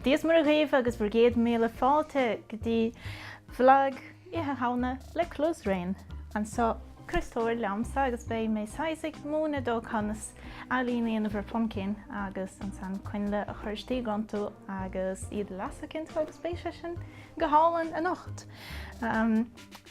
Dia is Muire dhaoibh agus bhur gcéad míle fáilte go dtí Vlag Oíche Shamhna le Cluas Raon anseo. Críostóir liomsa agus beidh mé saghas ag múineadh dóibh conas ealaín a dhéanamh ar phuimcín agus ansan coinnle a chur istigh iontu agus iad a lasadh iontu agus beidh sé sin go hálainn anocht.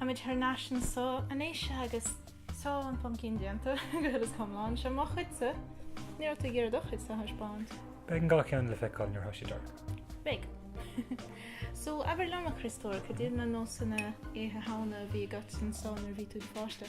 Táimid thar n-ais anso arís agus tá an pumpkin déanta go huile is go hiomlán. Seo mo chuidse. Ní raibh tú ag iarraidh do chuidse a thaispeáint? Beidh an dá cheann le feiceáil nuair atá sé dorcha. Beidh. So, abair liom, a Christóir, cad iad na nósanna Oíche Shamhna a bhí agat anso nuair a bhí tú i do pháiste?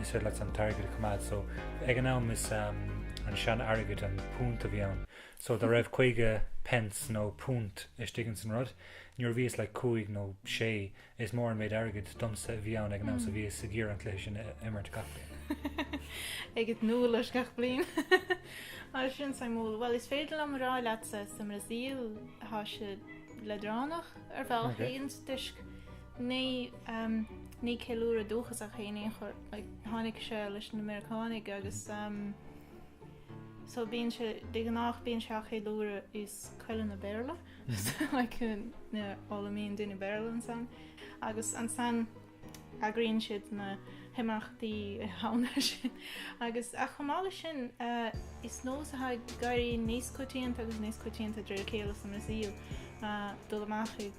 is féidir leat an t-airgead a choimeád so ag an am is an sean airgead an púnt a bhí ann so dá raibh caoga pence nó púnt istigh ins an rud nuair a bhíos like cúig nó sé is mór an méid airgid domsa a bhí ann ag an am so bhíos ag iarraidh an cluiche sin a imirt gach bliain. ag ithe úlla leis gach bliain. Mar sin suimiúil. Bhuel is féidir liom a rá leatsa sa mBrasaíl tá siad leadránach ar bhealach toisc Ní, ehm, ní ceiliúradh dúchasach í in aon chor, like, tháinig sé leis na Meiriceánaigh agus, ehm, so bíonn sé, de ghnáth bíonn sé á cheiliúradh i scoileanna Béarla, so like, ina bhfoghlaimíonn daoine Béarla ansan agus ansan eagraíonn siad na himeachtaí Oíche Shamhna sin agus, ach chomh maith leis sin, eh, is nós atá ag éirí níos coitianta agus níos coitianta de réir a chéile sa mBrasaíl, eh, dul amach i.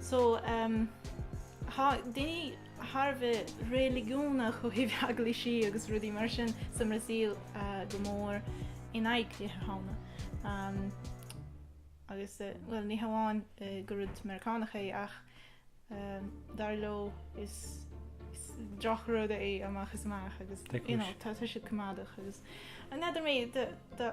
So, ehm, na daoine thar a bheith reiligiúnach ó thaobh eaglaisí agus rudaí mar sin sa mBrasaíl go mór in aghaidh Oíche Shamhna. Ehm, agus, eh, bhuel, ní hamháin gur rud Meiriceánach é ach, ehm, dar leo is is drochrud é amach is amach agus, you know, tá siad coimeádach agus. Ní fheadar mé, do, do,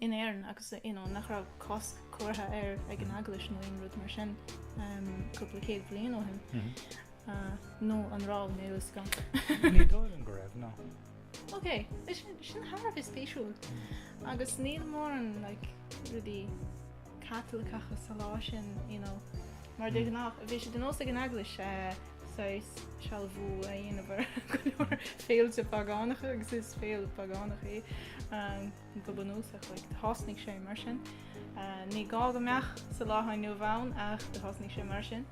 in Éirinn agus you know nach raibh cosc curtha air ag an Eaglais nó aon rud mar sin um, cúpla céad bliain ó shin. Mm -hmm. uh, nó an raibh níl a fhios agam. Ní dóigh liom go raibh ná. Ok, sin thar a bheith spéisiúil mm. agus níl mórán like, rudí Caitliceacha sa lá sin, you know, mar de ghnáth bhí sé de nós ag an eaglais saghas sealbhú a dhéanamh ar go leor féilte págánacha agus is féile phágánach í go bunúsach, like, thosnaigh sé mar sin. Ní gá go mbeadh sa lá atá inniu ann ach do thosnaigh sé mar sin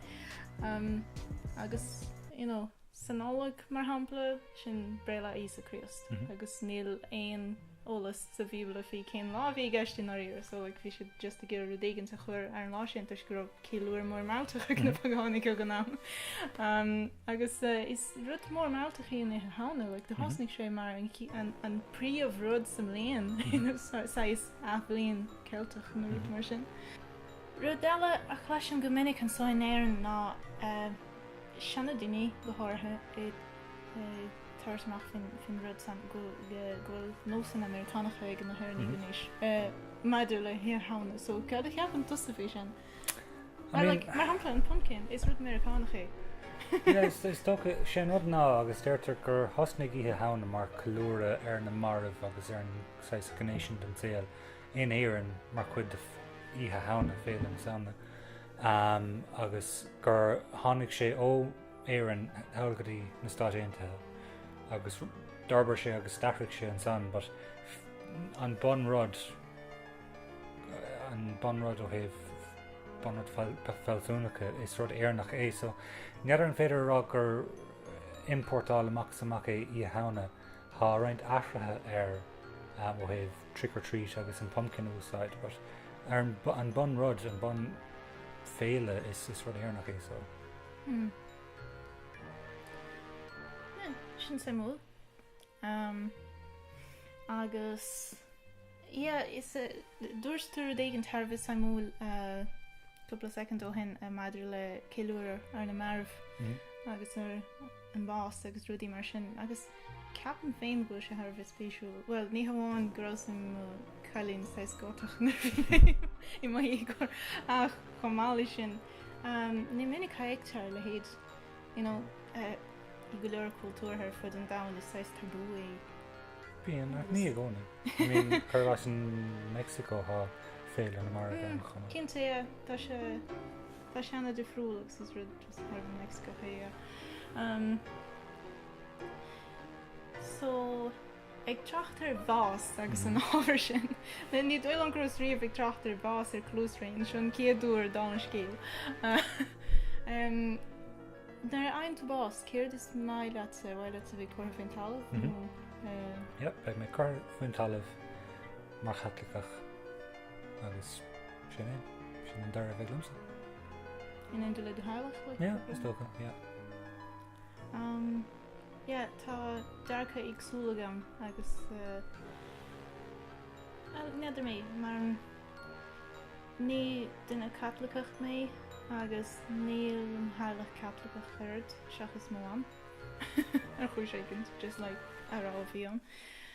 agus, you know, sa Nollaig, mar shampla, sin Breithlá Íosa Críost, agus níl aon eolas sa Bhíobla faoi cén lá a bhí i gceist i ndáiríre, so like bhí siad just ag iarraidh rud éigin a chur ar an lá sin toisc go raibh ceiliúradh mór mealltach ag na pagánaigh ag an am. Agus is rud mór mealltach í Oíche Shamhna, like do thosnaigh sé mar an an príomh rud sa mbliain, you know, saghas athbhliain Ceilteach nó rud mar sin. Rud eile a chloisim go minic anso in Éirinn ná seana daoine, go háirithe, ag tabhairt amach faoin rud san go bhfuil nósanna Meiriceánacha ag na hÉireannaigh anois maidir le hOíche Shamhna. So cad a cheapann tusa faoi sin? I mean... Like, mar shampla, an pumpkin, is rud Meiriceánach é. Yeah, is, is dócha, sé an rud ná, agus deirtear gur thosnaigh Oíche Shamhna mar ceiliúradh ar na marbh agus ar an saghas gné sin den saol. in Éirinn mar chuid de Oíche Shamhna, Féile na Samhna, agus gur tháinig sé ó Éirinn thall go dtí na Stáit Aontaithe agus d'fhorbair sé agus d'athraigh sé ansan but an bun rud, an bun rud ó thaobh bun rud fealsúnacha is rud Éireannach é so n'fheadar an féidir a rá gur importáil amach is amach é Oíche Shamhna, tá roinnt athruithe air ó thaobh trick or treat agus an pumpkin úsáid but ar an bun rud, an bun féile is is rud Éireannach í so. Hmm. Yeah, sin suimiúil. Um, agus, yeah, is uh, dúirt tú rud éigin thar a bheith suimiúil uh, cúpla second ó shin uh, maidir le ceiliúradh ar na marbh mm. agus ar an bás agus rudaí mar sin agus ceapaim féin go bhfuil sé thar a bheith spéisiúil, bhuel ní hamháin go rabhas i mo chailín saghas Gotach nuair a bhí mé i mo dhéagóir ach chomh maith leis sin ní minic a fheictear a leithéid, you know, i go leor cultúrtha ar fud an domhain is saghas tabú é. Bíonn, ach ní i gcónaí. I mean, cuir leis an Meicsiceo thá féile na marbh ann chomh maith. Cinnte é, tá sé. Tá sé ana difriúil agus is rud just ón Meicsiceo é. So ag trácht ar bhás agus an ábhar sin. Bhuel ní dóigh liom go rabhas riamh ag trácht ar bhás ar closraon, seo an chéad uair dom an scéal. Nuair a fhaigheann tú bás céard is mian leatsa? Ar mhaith leatsa a bheith curtha faoin talamh nó eh? Yep beidh mé curtha faoin talamh mar Chaitliceach agus Sin é. Sin an dara bheith liomsa. In éindí le do theaghlach like? Yeah, is dócha, yeah. Um, yeah, tá dearcadh éagsúil agam agus uh, well, n'fheadar mé, mar ní duine Caitliceach mé agus níl mo theaghlach Caitliceach ach oiread, seachas mo mham, ar chúis éigin, just like a raibh a bhí ann.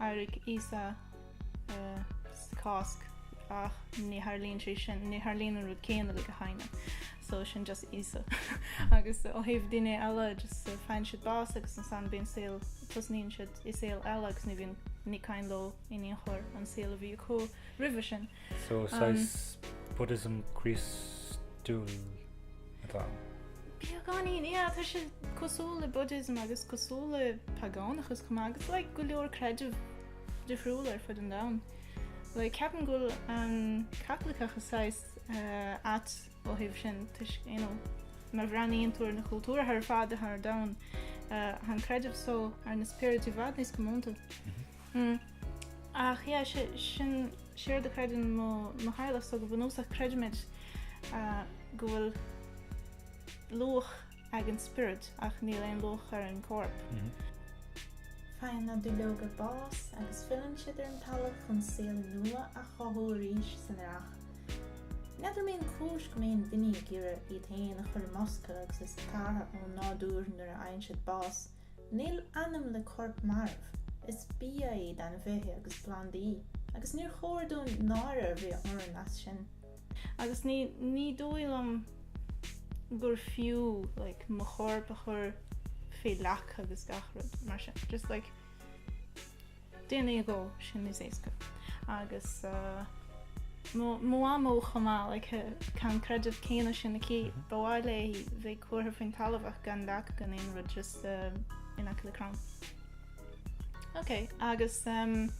D'éirigh Íosa sa Cháisc ach ní tharlaíonn sé sin, ní tharlaíonn an rud céanna le gach éinne. So sin just Íosa. Agus ó thaobh daoine eile just faigheann siad bás agus ansan bíonn saol, tosnaíonn siad i saol eile agus ní bhíonn ní cuimhin leo in aon chor an saol a bhí acu roimhe sin. So saghas Buddhism Críostúil atá ann. Beagáinín, yeah, tá sé cosúil le Buddhism agus cosúil le pagánachas chomh maith agus like go leor creidimh difriúil ar fud an domhain. Like ceapaim go bhfuil an Caitliceachas saghas eh, ait ó thaobh sin toisc you know má bhreathnaíonn tú ar na cultúir ar fad atá ar domhan eh, tá an creideamh so ar na spioraid i bhfad níos comónta. Ach yeah, sin é an rud a chreideann mo theaghlach so go bunúsach creidimid go bhfuil luach ag an spiorad ach níl aon luach ar an gcorp. Faigheann na duilleoga bás agus filleann siad ar an talamh chun saol nua a chothú arís san earrach. N'fheadar mé an cúis go mbíonn daoine ag iarraidh iad féin a chur i mbosca agus iad scartha ón nádúr nuair a fhaigheann siad bás. Níl anam le corp marbh. Is bia iad ainmhithe agus plandaí, agus níor chóir dúinn náire a bheith orainn as sin. Agus ní, ní dóigh liom gur fiú like, mo chorp a chur fé leac agus gach rud mar sin. Just like, Déanaí i gcó, sin is éasca. Agus mo mhamó chomh maith, like, tá an creideamh céanna sin aici, ba mhaith léi bheith curtha faoin talamh ach gan leac gan aon rud just in aice le crann. Ok, agus rud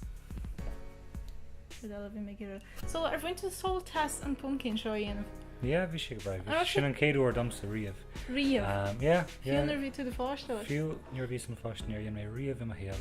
eile a bhí mé ag iarraidh. So ar bhain tú sult as an pumpkin seo a dhéanamh? Yeah, bhí sé go breá. Ah, Sin an céad uair domsa riamh. Riamh? Um, yeah, yeah. Fiú nuair a bhí tú do pháiste. Fiú nuair a bhíos im pháiste, níor dheineas é riamh i mo shaol.